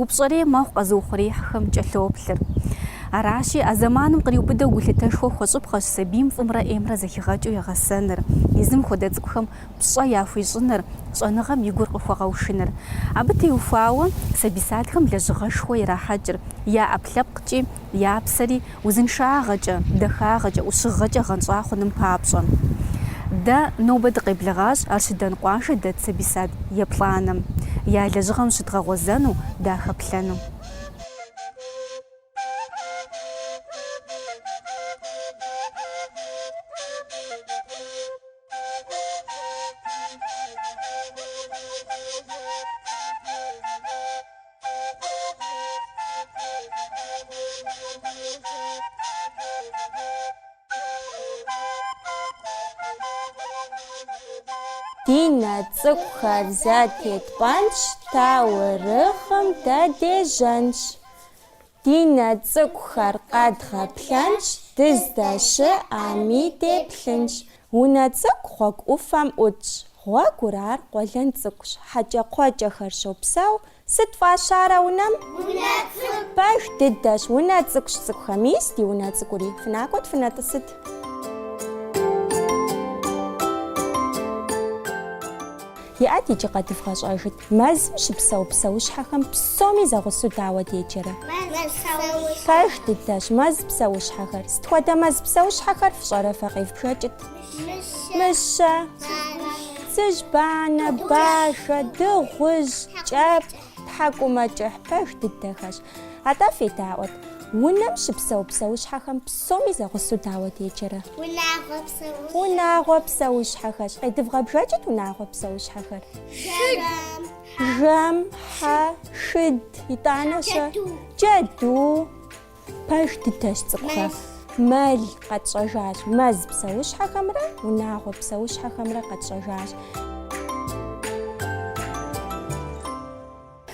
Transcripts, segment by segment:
Упщӏэрей мэхъу къэзыухъуреихьхэм кӏэлъоплъыр. Аращи, а зэманым къриубыдэу гулъытэшхуэ хуэщӏыпхъэщ сабийм фӏымрэ ӏеймрэ зэхигъэкӏыу егъэсэныр, езым хуэдэ цӏыкӏухэм пщӏэ яхуищӏыныр, щӏэныгъэм и гур къыхуэгъэушыныр. Абы теухуауэ сабий садхэм лэжьыгъэшхуэ ирахьэкӏыр, я ӏэпкълъэпкъкӏи, я псэри узыншагъэкӏэ, дахагъэкӏэ, ӏущыгъэкӏэ гъэнщӏа хъуным папщӏэ. Дэ нобэ дыкъеблэгъащ Арщыдан къуажэ дэт сабий сад еплӏанэм, я лэжьыгъэм щыдгъэгъуэзэну, дахэплъэну. Ди нэ цӏыкӏухэр зэтетпӏэнщ, таурыхъым дэ дежьэнщ. Ди нэ цӏыкӏухэр къэдгъэплъэнщ, дыздэщыӏэми деплъынщ. Унэ цӏыкӏу гъуэгу ӏуфэм ӏутщ. Гъуэгур ар къуэлэн цӏыкӏущ, хьэкӏэкхъуэкӏэхэр щопсэу. Сыт фӏащарэ унэм? Унэ цӏыкӏу. Пэж дыдэщ, унэ цӏыкӏущ цӏыкӏухэ. Мис ди унэ цӏыкӏури. Фынакӏуэт, фынэтӏысыт. Иӏэт иджы къэдывгъэщӏэжыт. Мэзым щыпсэу псэущхьэхэм псоми зэгъусэу дауэ деджэрэ? Пэж дыдэщ. Мэз псэущхьэхэр. Сыт хуэдэ мэз псэущхьэхэр фщӏэрэ фэ? Къевбжэкӏыт. Мыщэ, цыжьбанэ, бажэ, дыгъужь, кӏэпхъ, тхьэкӏумэкӏыхь, пэж дыдэхэщ. Атӏэ федаӏуэт, унэм щыпсэу псэущхьэхэм псоми зэгъусэу дауэ деджэрэ? Унагъуэ псэущхьэхэр. Унагъуэ псэущхьэхэщ. Къедывгъэбжэкӏыт унагъуэ псэущхьэхэр. Жэм, хьэ, шыд, итӏанэ-щэ? Джэду. Пэж дыдэщ цӏыкӏухэ. Мэл къэтщӏэжащ. Мэз псэущхьэхэмрэ унагъуэ псэущхьэхэмрэ къэтщӏэжащ.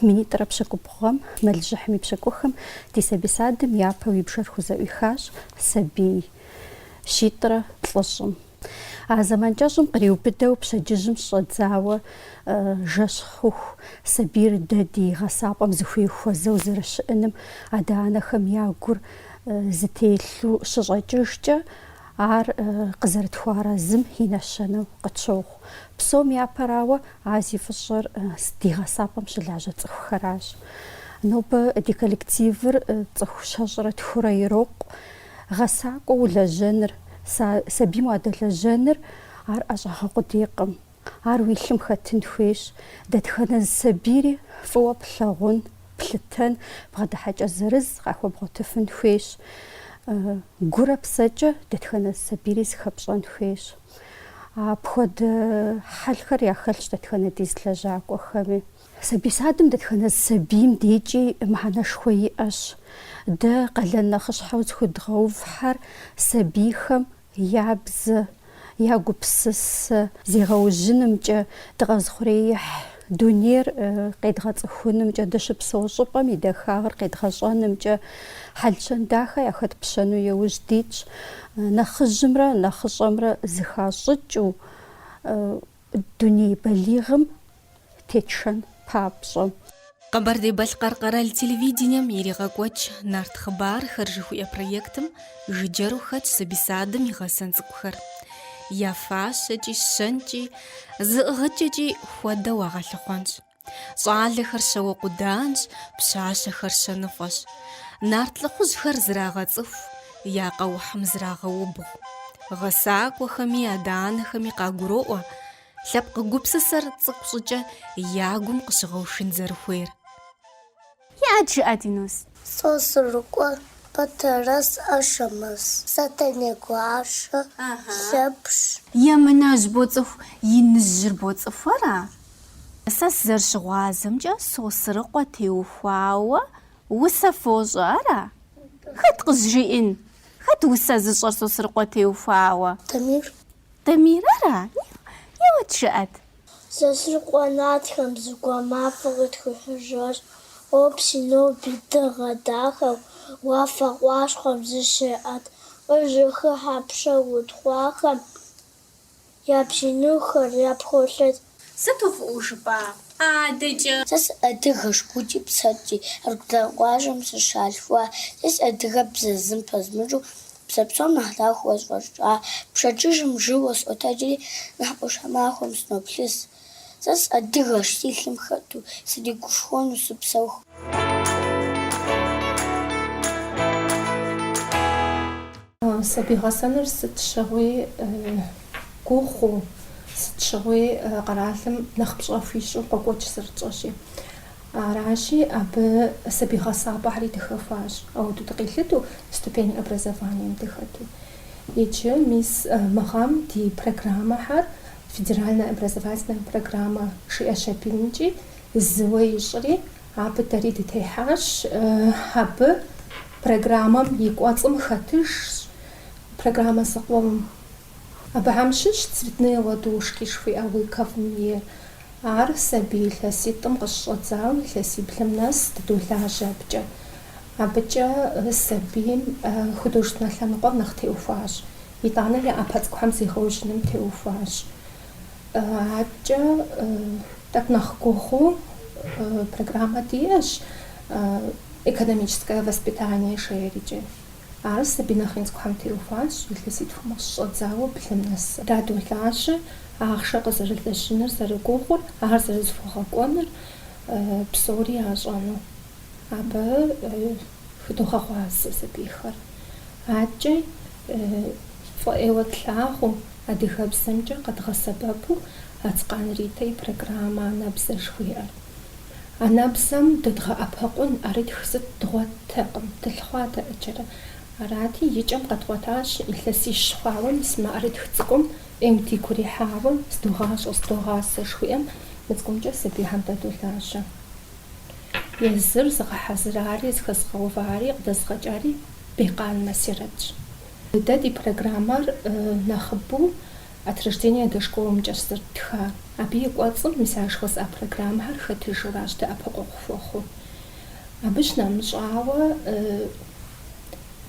Минитӏрэ пщыкӏубгъуэм мэлыжьыхьым и пщыкӏухым ди сабий садым япэу и бжэр хузэӏуихащ сабий щитӏрэ плӏыщӏым. А зэман кӏэщӏым къриубыдэу пщэдджыжьым щӏэдзауэ жэщ хъуху сабийр дэ ди гъэсапӏэм зыхуей хуэзэу зэрыщыӏэным адэ-анэхэм я гур зытелъу щыщӏэкӏыжкӏэ, ар къызэрытхуэарэзым и нэщэнэу къытщохъу. Псом япэрауэ, а зи фӏыщӏэр ди гъэсапӏэм щылажьэ цӏыхухэращ. Нобэ ди коллективыр цӏыху щэщӏрэ тхурэ ирокъу. Гъэсакӏуэ улэжьэныр, сэ сабийм уадэлэжьэныр, ар ӏэщӏагъэ къудейкъым. Ар уи лъым хэтын хуейщ. Дэтхэнэ зы сабийри фӏыуэ плъагъун, плъытэн, бгъэдыхьэкӏэ зырыз къахуэбгъуэтыфын хуейщ. Гурэ псэкӏэ дэтхэнэ зы сабийри зыхэпщӏэн хуейщ. Апхуэдэ хьэлхэр яхэлъщ дэтхэнэ ди зы лэжьакӏуэхэми. Сабий садым дэтхэнэ сабийм декӏи мыхьэнэшхуэ иӏэщ. Дэ къалэн нэхъыщхьэу зыхуэдгъэувхьэр сабийхэм я бзэ, я гупсысэ зегъэужьынымкӏэ дыкъэзыхъуреихь дунейр къедгъэцӏыхунымкӏэ, дыщыпсэу щӏыпӏэм и дахагъыр къедгъэщӏэнымкӏэ хьэл-щэн дахэ яхэтпщэну яужь дитщ, нэхъыжьымрэ нэхъыщӏэмрэ зыхащӏыкӏыу. Дуней балигъым тетшэн папщӏэ. Къэбэрдей-Балъкъэр къэрал телевидением иригъэкӏуэкӏ Нарт хъыбархэр жыхуиӏэ проектым жыджэру хэтщ сабий садым и гъэсэн цӏыкӏухэр. Я фащэкӏи, щэнкӏи, зыӏыгъыкӏэкӏи хуэдэ уагъэлъыхъуэнщ. Щӏалэхэр щауэ къуданщ, пщащэхэр щэныфӏэщ. Нарт лӏыхъужьхэр зрагъэцӏыху, я къэухьым зрагъэубгъу. Гъэсакӏуэхэми адэ-анэхэми къагуроӏуэ лъэпкъ гупсысэр цӏыкӏу щӏыкӏэ я гум къыщыгъэушын зэрыхуейр. Иӏэт, жыӏэт, Инус. Сосрыкъуэ, Батэрэз, Ашэмэз, Сэтэней гуащэ, Лъэпщ. Емынэжь боцӏыху Иныжьыр боцӏыху, ара? Сэ сызэрыщыгъуазэмкӏэ Сосрыкъуэ теухуауэ усэ фощӏэ ара? Хэт къызжиӏэн? Хэт усэ зыщӏэр Сосрыкъуэ теухуауэ? Дамир. Дамир ара? Еуэт, жыӏэт. Сосрыкъуэ нартхэм зэгуэр мафӏэ къытхуихьыжащ. Къопси ноби дыгъэ дахэу уафэ къуащхъуэм зыщеӏэт къызэхыхьэ пшэ утхъуахэм и бзий нэхухэр япхолъэт. Сыту фӏыӏуэу жыпӏа! Адэкӏэ! Сэ сыадыгэщ гукӏи псэкӏи, Аргудан къуажэм сыщалъхуа. Сэ си адыгэбзэ зым пэзмыщӏу, Бзэ псом нэхъ дахэу къысфӏэщӏа. Пщэдджыжьым жьыуэ сыкъотэджри, нэхъ Ӏуащхьэмахуэм сыноплъыс. Сэ сыадыгэщ, си лъым хэту сригушхуэну сыпсэуху. Сабий гъэсэныр сыт щыгъуи гугъуу, сыт щыгъуи къэралым нэхъ пщӏэ хуищӏу къокӏуэкӏ зэрытщӏэщи. Аращи, абы сабий гъэсапӏэхэри дыхэхуащ, ауэду дыкъилъыту, ступень образованием дыхэту. Иджы, мис, мы гъэм ди программэхэр федеральнэ образовательнэ программэ жиӏэщ аби, икӏи зыуэ ищӏри, абы дэри дытехьащ. Абы программэм и кӏуэцӏым хэтыжщ программэ зыкъом. Абыхэм щыщ Цветные ладошки жыхуиӏэ Лыковэм ейр Ар сабий илъэситӏым къыщыщӏэдзауэ илъэсиблым нэс дыдолажьэ абыкӏэ. Абыкӏэ сабийм художественнэ лъэныкъуэм нэхъ теухуащ, итӏанэ я ӏэпэ цӏыкӏухэм зегъэужьыным теухуащ. Абыкӏэ тӏэкӏу нэхъ гугъуу программэ диӏэщ экономическое воспитание жеӏэрикӏэ. Ар сабий нэхъ ин цӏыкӏухэм теухуащ, илъэситхум щыщӏэдзауэ блым нэсыр. Дадолажьэ ахъшэ къызэрылэжьыныр зэрыгугъур, ар зэрызыхуэгъэкӏуэныр псори ящӏэну. Абы хыдогъэгъуазэ сабийхэр. Адэкӏэ фӏы ӏейуэ тлъагъуу, адыгэбзэмкӏэ къэдгъэсэбэпу Ацкъан Ритэ и программэ Анэбзэ жыхуиӏэр. Анэбзэм дэдгъэӏэпыкъун ӏэрытх сыт дгъуэттэкъым, дылъыхъуат ӏэджэрэ. Арати, и кӏэм къэдгъуэтащ, илъэсищ хъуауэ мис мы ӏэрытх цӏыкӏум ӏейуэ дигу ирихьауэ, Зыдогъащӏэ, зыдогъасэ, жыхуиӏэм, мы цӏыкӏумкӏэ сабийхэм дадолажьэ. Езыр зыгъэхьэзырари, зыхэзгъэувари, къыдэзыгъэкӏари Бекъан Масирэтщ. Дэ ди программэр нэхъыбэу От рождения до школымкӏэщ зэрыттха. Абы и кӏуэцӏым мис ар жыхуэсӏа программэхэр хэтыжуращ дэӏэпыкъуэгъу хуэхъуу. Абы щынэмыщӏауэ,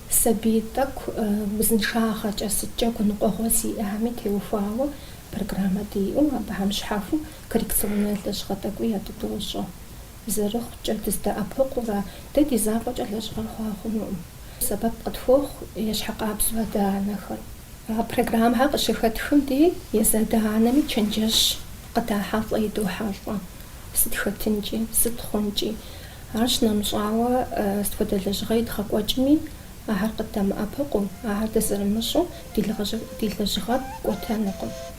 сабий тӏэкӏу узыншагъэкӏэ сыткӏэ гуныкъуэгъуэ зиӏэхэми теухуауэ программэ диӏэу, абыхэм щхьэхуэу коррекционнэ лэжьыгъэ тӏэкӏуи ядыдощӏэ. Зэрыхъукӏэ, дыздэӏэпыкъуурэ, дэ ди закъуэкӏэ лэжьыгъэр хъуа хъунуӏым. Сэбэп къытхуохъу ещхьыркъабзэу адэ-анэхэр. А программэхэр къыщыхэтхым дей езы адэ-анэми чэнджэщ къыдахьэлӏэ, идохьэлӏэ, сыт хэтынкӏи, сыт хъункӏи. Ар щынэмыщӏауэ, сыт хуэдэ лэжьыгъэ идгъэкӏуэкӏми, ахэр къыддэмыӏэпыкъуу, ахэр дызэрымыщӏу ди лэжьыгъэр кӏуэтэнукъым.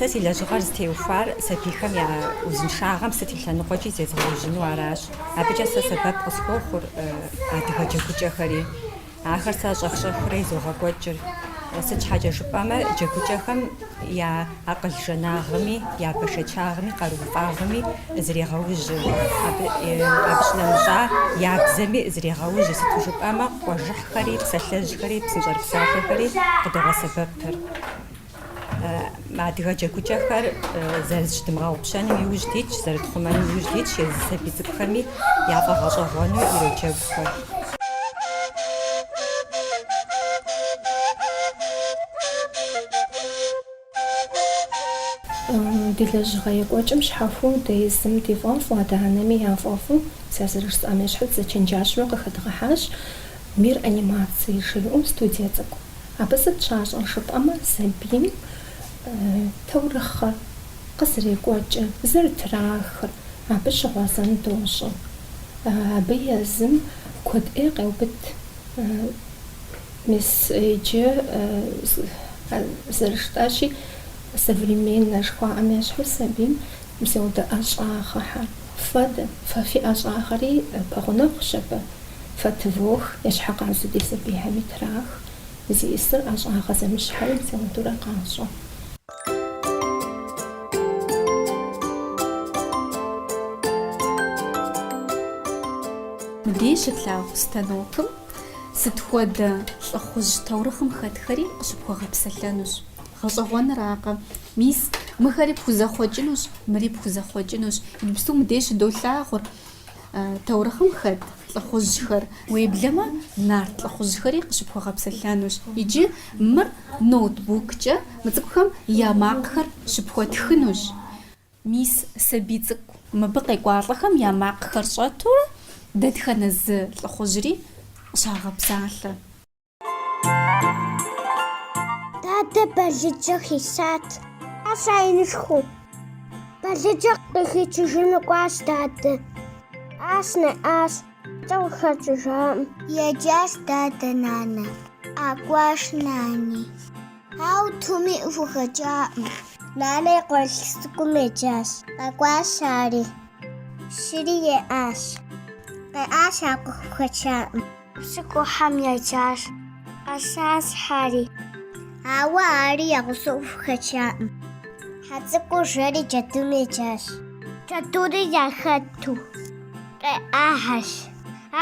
Сэ си лэжьыгъэр зытеухуар сабийхэм я узыншагъэм сыт и лъэныкъуэкӏи зезгъэужьыну аращ. Абыкӏэ сэ сэбэп къысхуохъур адыгэ джэгукӏэхэри. Ахэр сэ щӏэх-щӏэхыурэ изогъэкӏуэкӏыр, сыт щхьэкӏэ жыпӏэмэ, джэгукӏэхэм я акъыл жэнагъми, я бэшэчагъми, къарууфӏагъми зрегъэужьыр, абы щынэмыщӏа я бзэми зрегъэужьыр, сыту жыпӏэмэ къуажэхьхэри, псалъэжьхэри, псынщӏэрыпсалъэхэри къыдогъэсэбэпыр. Адыгэ джэгукӏэхэр зэрызыщыдмыгъэгъупщэным иужь дитщ, зэрытхъумэным иужь дитщ, езы сабий цӏыкӏухэми яфӏэгъэщӏэгъуэну ироджэгухэр. Ди лэжьыгъэ екӏуэкӏым щхьэхуэу дэ езым ди фӏэфӏу, адэ-анэми я фӏэфӏу, сэ зэрыжысӏам ещхьу дызэчэнджэщу къыхэдгъэхьащ Мир анимации жиӏэу студие цӏыкӏу. Абы сыт щащӏэр жыпӏэмэ, сабийм таурыхъыр къызэрекӏуэкӏыр, зэрытрахыр, абы щыгъуэзэн дощӏэ. Абы езым куэд ӏей къеубыд. Мис иджы зэрыжытӏащи, современнэ жыхуаӏэм ещхьу сабийм псевдоӏэщӏагъэхэр. Фэ-дэ, фэ фи ӏэщӏагъэри пэгъунэгъущ абы. Фэ тывох, ещхьыркъабзэу ди сабийхэми трах, зи ӏысыр ӏэщӏагъэ зэмыщхьхэри псевдоурэ къащӏэ. Мыбдеж щытлъагъу станокым сыт хуэдэ лӏыхъужь таурыхъым хэтхэри къыщыпхуэгъэпсэлъэнущ. Гъэщӏэгъуэныракъэ? Мис, мыхэри пхузэхъуэкӏынущ, мыри пхузэхъуэкӏынущ. Иджыпсту мыбдеж щыдолъагъур таурыхъым хэт лӏыхъужьхэр. Уеблэмэ, нарт лӏыхъужьхэри къыщыпхуэгъэпсэлъэнущ. Иджы мыр ноутбуккӏэ мы цӏыкӏухэм я макъхэр щыпхуэтхынущ. Мис, сабий цӏыкӏу мыбы къекӏуалӏэхэм я макъхэр щӏэту дэтхэнэ зы лӏыхъужьри къыщагъэпсалъэ. Дадэ балыджэ хисат. Аща инышху. Балыджэ къыхичыжыну кӏуащ дадэ. Ащ нэӏащ, кӏэ къыхэкӏыжакъым. Еджащ дадэ нанэ. Къэкӏуащ нани. Ау тӏуми къахухэчакъым. Нанэ и къуэрылъху цӏыкӏум еджащ. Къэкӏуащ ари. Щыри еӏащ. Къеӏащ ар къыхухэчакъым. Цӏыкӏур хьэм еджащ, къэсащ хьэри. Ауэ ари я гъусэу къахухэчаӏым. Хьэ цӏыкӏур жэри джэдум еджащ. Джэдури яхэту къеӏахэщ.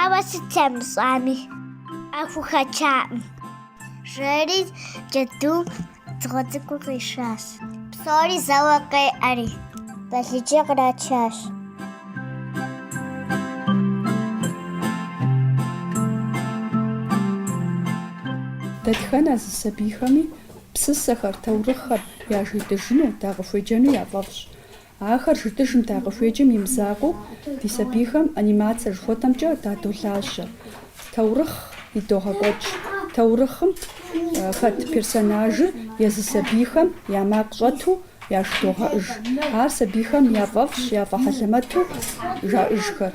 Ауэ сыт ямыщӏами, къахухэчаӏым. Жэри джэдум Дзыгъуэ цӏыкӏур къишащ. Псори зэуэ къеӏэри. Балыджэ кърачащ. Дэтхэнэ зы сабийхэми псысэхэр, таурыхъхэр яжетӏыжыну, дакъыхуеджэну яфӏэфӏщ. Ахэр жытӏыжым дакъыхуеджэм и мызакъуэу, ди сабийхэм анимацие жыхуэтӏэмкӏэ дадолажьэ. Таурыхъ идогъэкӏуэкӏ. Таурыхъым хэт персонажыр езы сабийхэм я макъ щӏэту яжыдогъэӏыж. Ар сабийхэм яфӏэфӏщ, яфӏэхьэлэмэту жаӏыжхэр.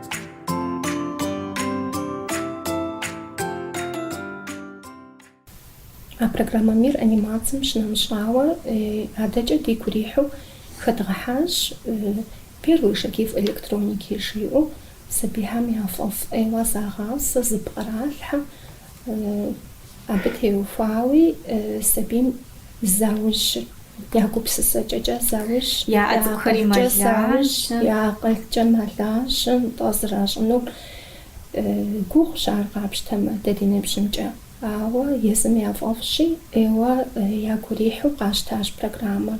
А программэ Мир анимацием щынэмыщӏауэ, адэкӏэ дигу ирихьу хэдгъэхьащ Первые шаги в электронике жиӏэу, сабийхэм яфӏэфӏ ӏейуэ загъасэ, зыпкъралъхьэ. Абы теухуауи сабийм заужьыр я гупсысэкӏэкӏэ заужь, я акъылкӏэ заужь, я акъылкӏэ мэлажьэ, нтӏэ, зэращӏынур гугъущ ар къапщтэмэ дэ ди ныбжьымкӏэ. Ауэ езым яфӏэфӏщи, ӏейуэ ягу ирихьу къащтащ программэр.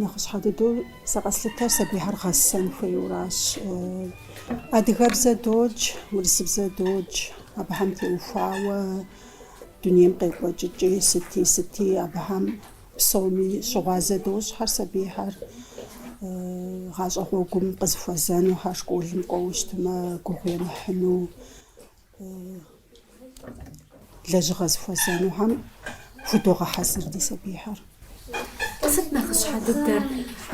Нэхъыщхьэ дыдэу сэ къэслъытэр сабийхэр гъэсэн хуейуэращ. Адыгэбзэ додж, урысыбзэ додж, абыхэм теухуауэ дунейм къекӏуэкӏыкӏи, сыти, сыти, абыхэм псоми щыгъуазэ дощӏхэр сабийхэр. Гъащӏэ гъуэгум къызыхуэзэнухэр, школым кӏуэуэ щытмэ, гугъу емыхьыну. лэжьыгъэ зыхуэзэнухэм худогъэхьэзыр ди сабийхэр. Сыт нэхъыщхьэ дыдэр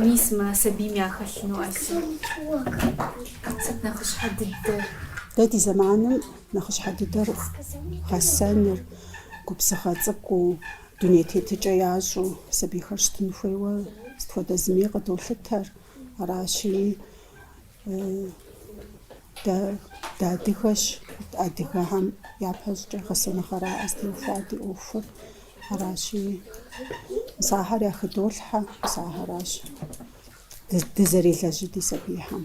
мис мы сабийм яхэлъыну, Айсэ? Сыт нэхъыщхьэ дыдэр? Дэ ди зэманым нэхъыщхьэ дыдэр гъэсэныр, губзыгъэ цӏыкӏуу, дуней тетыкӏэ ящӏэу сабийхэр щытын хуейуэ сыт хуэдэ зыми къыдолъытэр. Аращи, Дэ дыадыгэщ, адыгэхэм япэщӏыкӏэ гъэсэныгъэракъэ зытеухуар ди ӏуэхур. Аращи, мис ахэр яхыдолъхьэ, мис ахэращ дызэрелэжьыр ди сабийхэм.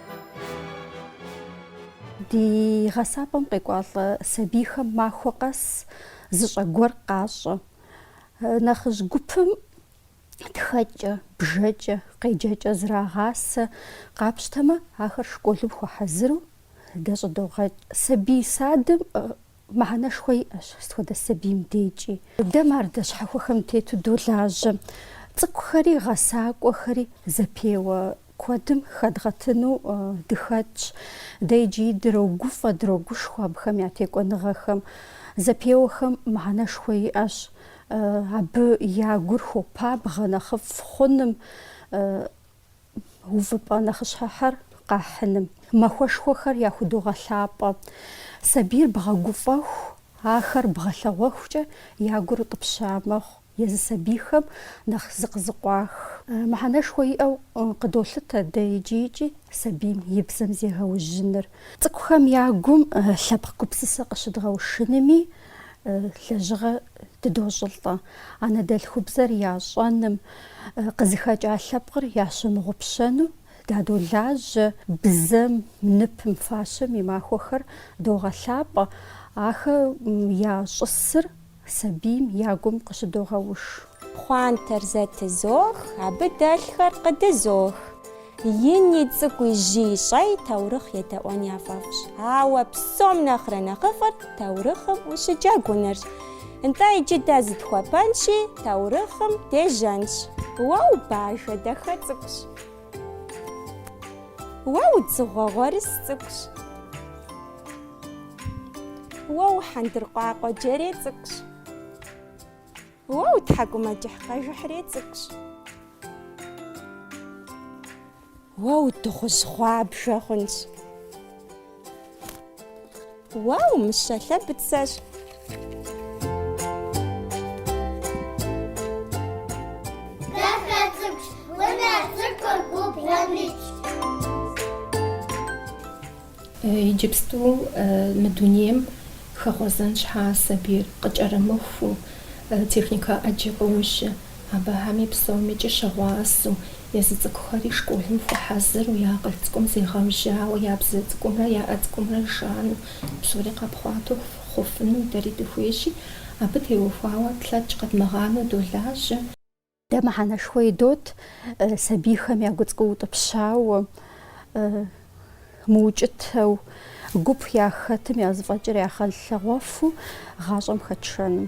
Ди гъэсапӏэм къекӏуалӏэ сабийхэм махуэ къэс зыщӏэ гуэр къащӏэ. Нэхъыжь гупым тхэкӏэ, бжэкӏэ, къеджэкӏэ зрагъасэ. Къапщтэмэ, ахэр школым хуэхьэзыру дэ щӏыдогъэкӏ. Сабий садым Мыхьэнэшхуэ иӏэщ сыт хуэдэ сабийм декӏи. Дэ мардэ щхьэхуэхэм тету долажьэ. Цӏыкӏухэри гъэсакӏуэхэри зэпеуэ куэдым хэдгъэтыну дыхэтщ. Дэ иджыри дрогуфӏэ, дрогушхуэ абыхэм я текӏуэныгъэхэм. Зэпеуэхэм мыхьэнэшхуэ иӏэщ абы я гур хуопабгъэ нэхъыфӏ хъуным. увыпӏэ нэхъыщхьэхэр къахьыным, махуэшхуэхэр яхудогъэлъапӏэ, сабийр бгъэгуфӏэху, ахэр бгъэлъэгъуэхукӏэ я гур утӏыпща мэхъу, езы сабийхэм нэхъ зыкъызыкъуах. Мыхьэнэшхуэ иӏэу къыдолъытэ дэ иджырикӏи сабийм и бзэм зегъэужьыныр. Цӏыкӏухэм я гум лъэпкъ гупсысэ къыщыдгъэушынми, лэжьыгъэ дыдощӏылӏэ, анэдэлъхубзэр ящӏэным, къызыхэкӏа лъэпкъыр ящымыгъупщэну дадолажьэ, бзэм, ныпым, фащэм и махуэхэр догъэлъапӏэ, ахэр я щӏысыр сабийм я гум къыщыдогъэуш. Пхъуантэр зэтызох, абы дэлъхэр къыдызох. Ини цӏыкӏуи жьыи щӏэи таурыхъ едэӏуэн яфӏэфӏщ. Ауэ псом нэхърэ нэхъыфӏыр таурыхъым ущыджэгунырщ. Нтӏэ, иджы дэ зытхуэпэнщи, таурыхъым дежьэнщ. Уэ убажэ дахэ цӏыкӏущ. Уэ удзыгъуэ гъуэрыс цӏыкӏущ. Уэ ухьэндыркъуакъуэ джэрей цӏыкӏущ. Уэ утхьэкӏумэкӏыхь къэжыхьрей цӏыкӏущ. Уэ удыгъужь гъуабжэ хъунщ. Уэ умыщэ лъэбыцэщ. Иджыпсту мы дунейм хэгъуэзэн щхьа сабийр къыкӏэрымыхуу, техникэ ӏэджи къожьэ, абыхэми псомикӏи щыгъуазэу, езы цӏыкӏухэри школым хуэхьэзыру, я акъыл цӏыкӏум зегъэужьауэ, я бзэ цӏыкӏумрэ я ӏэ цӏыкӏумрэ жану, псори къэпхъуатэу хъуфыну дэри дыхуейщи, абы теухуауэ тлъэкӏ къэдмыгъанэу долажьэ. Дэ мыхьэнэшхуэ идот сабийхэм я гу цӏыкӏу утӏыпщауэ, мыукӏытэу, гуп яхэтым я зэфӏэкӏыр ягъэлъэгъуэфу гъащӏэм хэтшэным.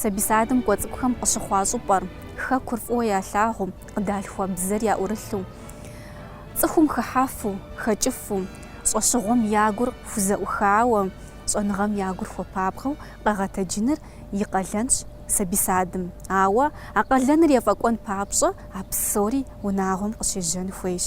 Сабий садым кӏуэ цӏыкӏухэм къыщыхъуа щӏыпӏэр, хэкур фӏыуэ ялъагъуу, къыдалъхуа бзэр яӏурылъу, цӏыхум хыхьэфу, хэкӏыфу, щӏэщыгъуэм я гур хузэӏухауэ, щӏэныгъэм я гур хуэпабгъэу къэгъэтэджыныр и къалэнщ сабий садым. Ауэ а къалэныр ефӏэкӏуэн папщӏэ а псори унагъуэм къыщежьэн хуейщ.